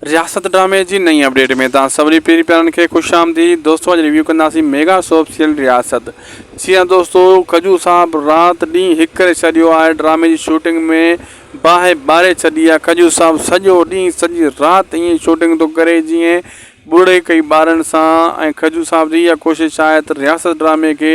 رياست ڊرامي جي نئين اپڊيٽ ۾ توهان سڀني پيري پيارن کي خوش آمديد دوستو اڄ ريويو ڪنداسين ميگا سوپ سيريل رياست جي ها دوستو ڪجو صاحب رات ڏينهن هڪ ڪري ڇڏيو آهي ڊرامي جي شوٽنگ ۾ باهه ٻاري ڇڏي آهي ڪجو صاحب سڄو ڏينهن سڄي رات ائين شوٽنگ ٿو ڪري جئين ٻڙي ڪئي ٻارن سان ۽ ڪجو صاحب جي اها ڪوشش آهي ته رياست ڊرامي کي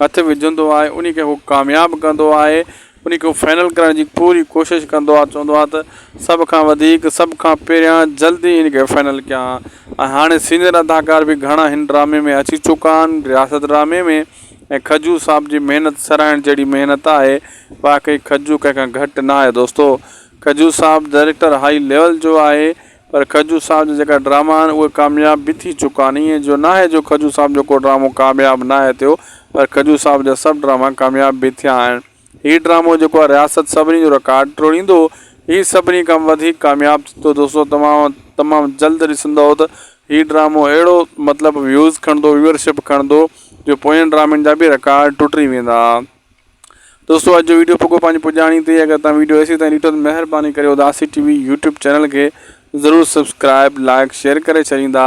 هٿ وجهندو آهي انهي کي هو ڪامياب ڪندو آهي انهي کي هو فائنل ڪرڻ جي پوري ڪوشش ڪندو آهي چوندو آهي ته سڀ کان وڌيڪ سڀ کان پهريان جلدي هن کي فائنل ڪيان ها ۽ هاڻي سينئر اداڪار به گهڻا هن ڊرامي ۾ اچي چڪا آهن رياست ڊرامي ۾ ۽ کجو صاحب جي محنت سراهڻ جهڙي محنت آهي واقعي کجو ڪنهن کان گهٽ نه آهي دوستو کجو صاحب ڊائريڪٽر هائي ليول جو آهي پر کجو صاحب جا جيڪا ڊراما آهن اهي ڪامياب به ٿي چڪا آهن ائين جو ناهي جو کجو صاحب جو ڪو ڊرامو ڪامياب ناهي ٿيو پر کجو صاحب جا سڀ ڊراما ڪامياب به ٿيا آهن هي ڊرامو جيڪو آهي رياست سڀني جو رڪارڊ ٽوڙيندو هي سڀني کان وڌيڪ ڪامياب ٿيندو دوستو تمام تمام جلد ڏسندؤ ته هي ڊرامو اهڙو مطلب ويوز کڻندو ويورشپ کڻندو جو پوين ڊرامن جا به رڪارڊ ٽٽي ويندا دوستو اڄ جو ويڊيو پڳو پنهنجي پڄاڻي تي اگر تان ويڊيو ايسي تائين ڏٺو ته مهرباني ڪري اداسي ٽي وي يوٽيوب چينل کي ضرور سبسڪرائب لائڪ شيئر ڪري ڇڏيندا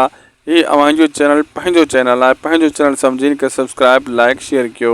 هي اوهان جو چينل پنهنجو چينل آهي پنهنجو چينل سمجهين کي سبسڪرائب لائڪ شيئر ڪيو